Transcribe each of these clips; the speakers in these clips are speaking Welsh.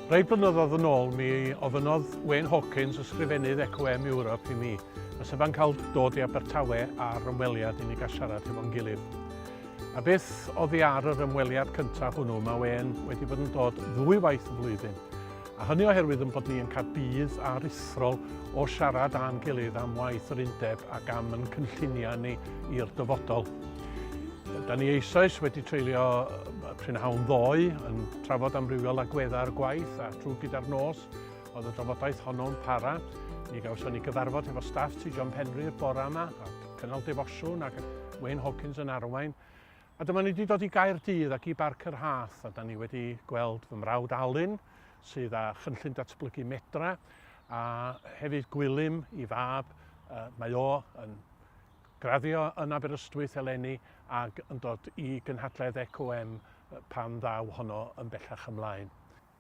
Rhai blynyddoedd yn ôl, mi ofynodd Wayne Hawkins, ysgrifennydd Eco M Europe, i mi, os yfa'n cael dod i Abertawe ar ymweliad i ni gael siarad hefo'n gilydd. A beth oddi ar yr ymweliad cyntaf hwnnw? Mae e'n wedi bod yn dod ddwy waith y flwyddyn. A hynny oherwydd yn bod ni yn cael budd aruthrol o siarad â'n gilydd am waith yr undeb ac am yn cynlluniau ni i'r dyfodol. Da ni eisoes wedi treulio prynhawn ddoe yn trafod amrywiol agweddau'r gwaith a trwy gyda'r nos oedd y drafodaeth honno'n para. Mi gawson ni gyfarfod efo staff Tŷ John Penri'r bore yma Cynnal Defosiwn ac Wayne Hawkins yn arwain. A dyma ni wedi dod i Gaerdydd ac i Barc yr Hath a da ni wedi gweld fy mrawd Alun sydd â chynllun datblygu Medra a hefyd Gwilym i fab. Uh, mae o yn graddio yn Aberystwyth eleni ac yn dod i gynhadledd ECOM pan ddaw honno yn bellach ymlaen.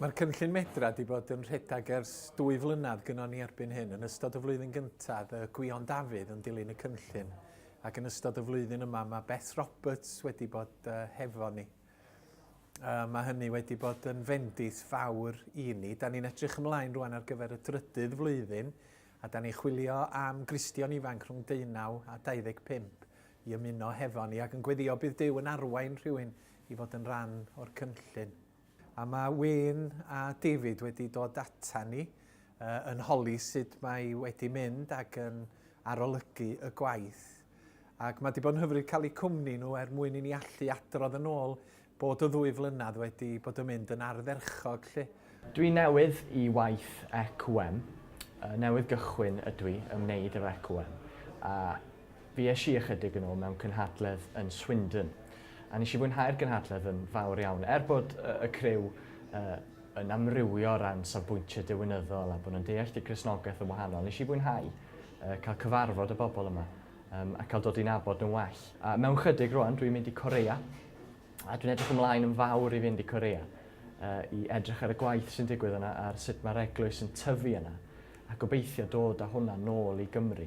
Mae'r cynllun Medra 'di bod yn rhedeg ers dwy flynedd gynno ni erbyn hyn. Yn ystod y flwyddyn gyntaf, y Gwion Dafydd yn dilyn y cynllun, ac yn ystod y flwyddyn yma mae Beth Roberts wedi bod uh, hefo ni. Uh, mae hynny wedi bod yn fendith fawr i ni. Da ni'n edrych ymlaen rwan ar gyfer y drydydd flwyddyn, a da ni chwilio am Gristion ifanc rhwng 19 a 25 i ymuno hefo ni, ac yn gweddio bydd Dyw yn arwain rhywun i fod yn rhan o'r cynllun. A mae Wayne a David wedi dod ata ni yn holi sut mae wedi mynd ac yn arolygu y gwaith. Ac mae wedi bod yn hyfryd cael eu cwmni nhw er mwyn i ni allu adrodd yn ôl bod y ddwy flynedd wedi bod yn mynd yn ardderchog 'lly. Dwi newydd i waith EQM, newydd gychwyn ydwi ymwneud efo EQM a Fues i ychydig yn ôl mewn cynhadledd yn Swindon a nes i fwynhau'r gynhadledd yn fawr iawn er bod y criw yn amrywio o ran safbwyntiau diwinyddol a bod nhw'n deall y Cristnogaeth yn wahanol. Nes i fwynhau cael cyfarfod y bobl yma a cael dod i nabod nhw'n well. A mewn chydig rwan dwi'n mynd i Corea a dwi'n edrych ymlaen yn fawr i fynd i Corea i edrych ar y gwaith sy'n digwydd yna ar sut mae'r eglwys yn tyfu yna a gobeithio dod â hwnna nôl i Gymru.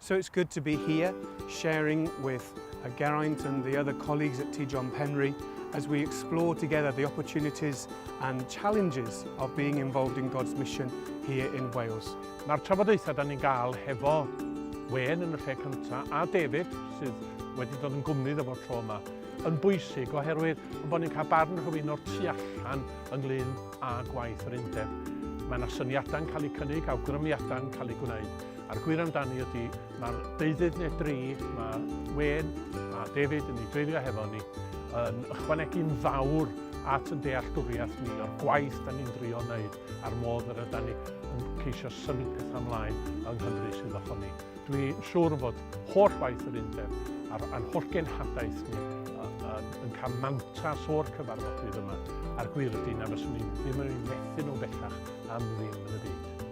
So it's good to be here, sharing with uh, Geraint and the other colleagues at T. John Penry as we explore together the opportunities and challenges of being involved in God's mission here in Wales. Mae'r trafodaethau da ni'n gael hefo Wen yn y lle cyntaf a David sydd wedi dod yn gwmni dda tro yma yn bwysig oherwydd yn bod ni'n cael barn rhywun o'r tu allan ynglyn â gwaith yr undeb. Mae yna syniadau'n cael eu cynnig, awgrymiadau'n cael eu gwneud A'r gwir amdani ydy, mae'r deudydd neu dri, mae Wên a David yn ei dreiddio hefo ni, yn ychwanegu'n fawr at yn dealltwriaeth ni o'r gwaith da ni'n drio wneud a'r modd yr yda ni yn ceisio symud pethau ymlaen yng Nghymru sydd o ni. Dwi'n siŵr fod holl waith yr undeb a'r, a'n holl genhadaeth ni yn cael mantas o'r cyfarfodydd yma. A'r gwir ydy na fyswn ni ddim yn ei methu nhw bellach am ddim yn y byd.